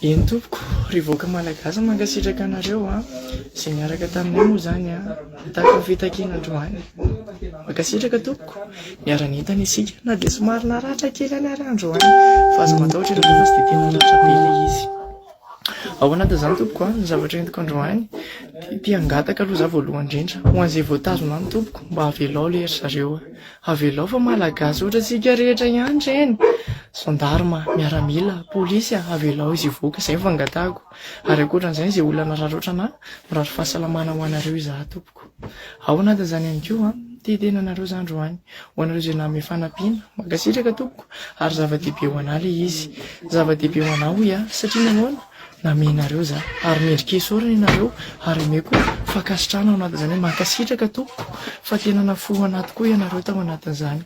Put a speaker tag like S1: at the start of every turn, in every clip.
S1: Eny tompoko, ry vahoaka malagasy mankasitraka anareo a, izay niaraka taminay moa izany a, nitaky ny fitakiana androany. Mankasitraka tompoko, niara-nentana isika na dia somary naratra kely any ary androany fa aza matahotra ianareo fa tsy dia tena ratra be ilay izy. Ao anatin' izany tompoko a, ny zavatra entiko androany dia te hangataka aloha za voalohany indrindra ho an'izay voatazona any tompoko mba havelao ilay ry zareo a. Avelao fa malagasy ohatra tsika rehetra ihany reny, gendarme, miaramila, polisy a, avelao izy hivoaka, zay no fangatahako, ary ankoatran'izay izay olana raraotrana mirary fahasalamana ho anareo izaho tompoko ao anatin'izany ihany koa an, te tena anareo za androany, ho anareo izay nanome fanampiana, mankasitraka tompoko, ary zava-dehibe ho anah le izy, zava-dehibe ho anah hoy aho, satria nahoana? Namenareo za ary mendrika esorina ianareo ary omeko fankasitrahana ao anatin'izany hoe mankasitraka tompoko fa tena nafoy ho anaty koa ianareo tao anatin'izany.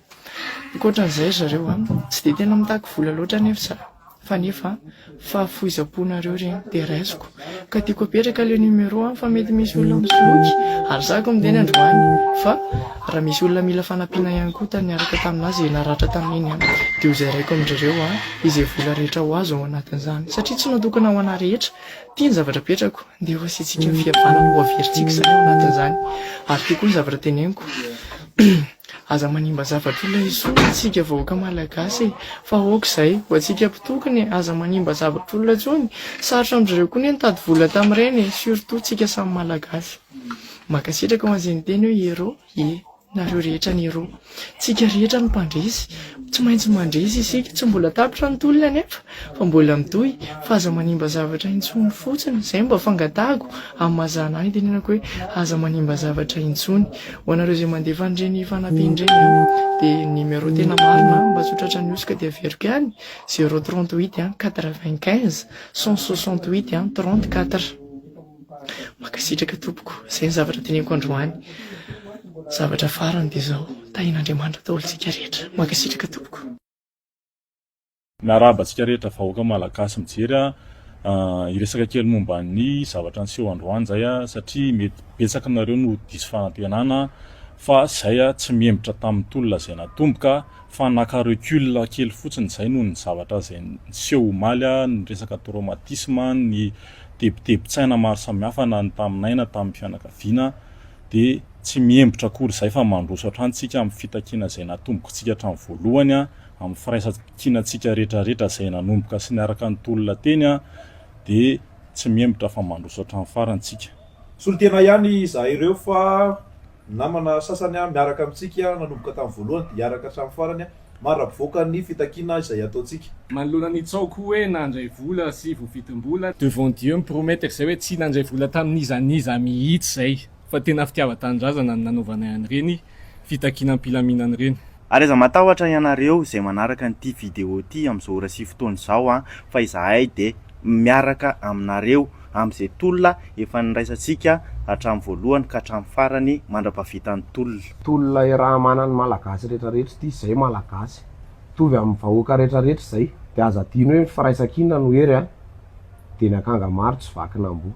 S1: Ankoatran'izay ry zareo an, tsy dia tena mitaky vola loatra anefa za fa nefa fahafoizam-ponareo ireny dia raisiko ka tiako apetraka ilay numéro an fa mety misy olona misoloky ary za koa miteny androany fa Raha misy olona mila fanampiana ihany koa tany niaraka taminà izay naratra tamin'iny an, dia hozaraiko amin-dry ireo an, izay vola rehetra ho azo ao anatin'izany. Satria tsy natokana ho anà rehetra. Ity ny zavatra apetrako. Andeha hoasiantsika ny fihavanana ho averintsika izany ao anatin'izany. Ary ity koa ny zavatra teneniko. Aza manimba zavatra olona intsony isika vahoaka malagasy e! Fa aoka izay, ho antsika mpitokona e! Aza manimba zavatra olona intsony. Sarotra amin-dry ireo koa anie nitady vola tamin'ireny e! Surtout tsika samy malagasy. Mankasitraka ho an'izay niteny hoe Hero e! nareo rehetra ny Hero. Tsika rehetra no mpandresy. Tsy maintsy mandresy isika. Tsy mbola tapitra ny tolona anefa fa mbola mitohy fa aza manimba zavatra intsony fotsiny. Izay no mba fangatahako amin'ny maha zana ahy ny tenenako hoe aza manimba zavatra intsony. Ho anareo izay mandefa an'ireny fanampiana ireny dia ny numéro tena marina mba tsy ho tratran'ny hosoka dia averiko ihany zéro trente huit quatre vingt quinze cent soixante huit trente quatre. Mankasitraka tompoko, izay ny zavatra teneniko androany. Zavatra farany dia izao, tahin'Andriamanitra daholo isika rehetra. Mankasitraka tompoko. Miarahaba
S2: antsika rehetra vahoaka malagasy mijery a! Hiresaka kely momba ny zavatra niseho androany izay a! Satria mety betsaka aminareo no diso fanantenana fa izay a! Tsy mihembotra tamin'ny tolona izay natomboka fa naka recul kely fotsiny izay noho ny zavatra izay niseho omaly a! Ny resaka traumatisme, ny tebitebin-tsaina maro samihafa na ny taminay na tamin'ny fianakaviana dia tsy mihembotra akory izay fa mandroso hatrany isika amin'ny fitakiana izay natombokontsika hatramin'ny voalohany amin'ny firaisankinantsika retraretra izay nanomboka sy niaraka ny tolona teny dia tsy mihembotra fa mandroso hatramin'ny farany isika. Solontena ihany
S3: izahay ireo fa ny namana sasany miaraka amintsika nanomboka tamin'ny voalohany dia hiaraka hatramin'ny farany Maravoaka ny fitakiana izay ataontsika. Manoloana ny tsaoko
S4: hoe nandray vola sy voavidim-bola. Devant Dieu mi-promettre izay hoe tsy nandray vola tamin'iza n'iza mihitsy izay fa tena fitiavan-tanindrazana no nanaovanay an'ireny fitakiana am-pilaminana ireny. Ary aza matahotra
S5: ianareo izay manaraka an'ity vidéo ity amin'izao ora sy fotoana izao an, fa izahay dia miaraka aminareo. amin'izay tolona efa niraisantsika hatramin'ny voalohany ka hatramin'ny farany mandra-pahavitan'ny tolona. Tolona iraha-manan'ny
S6: Malagasy rehetra rehetra ity izay Malagasy mitovy amin'ny vahoaka rehetra rehetra izay dia aza adino hoe ny firaisan-kina no hery a! dia ny akanga maro tsy vakin'amboa.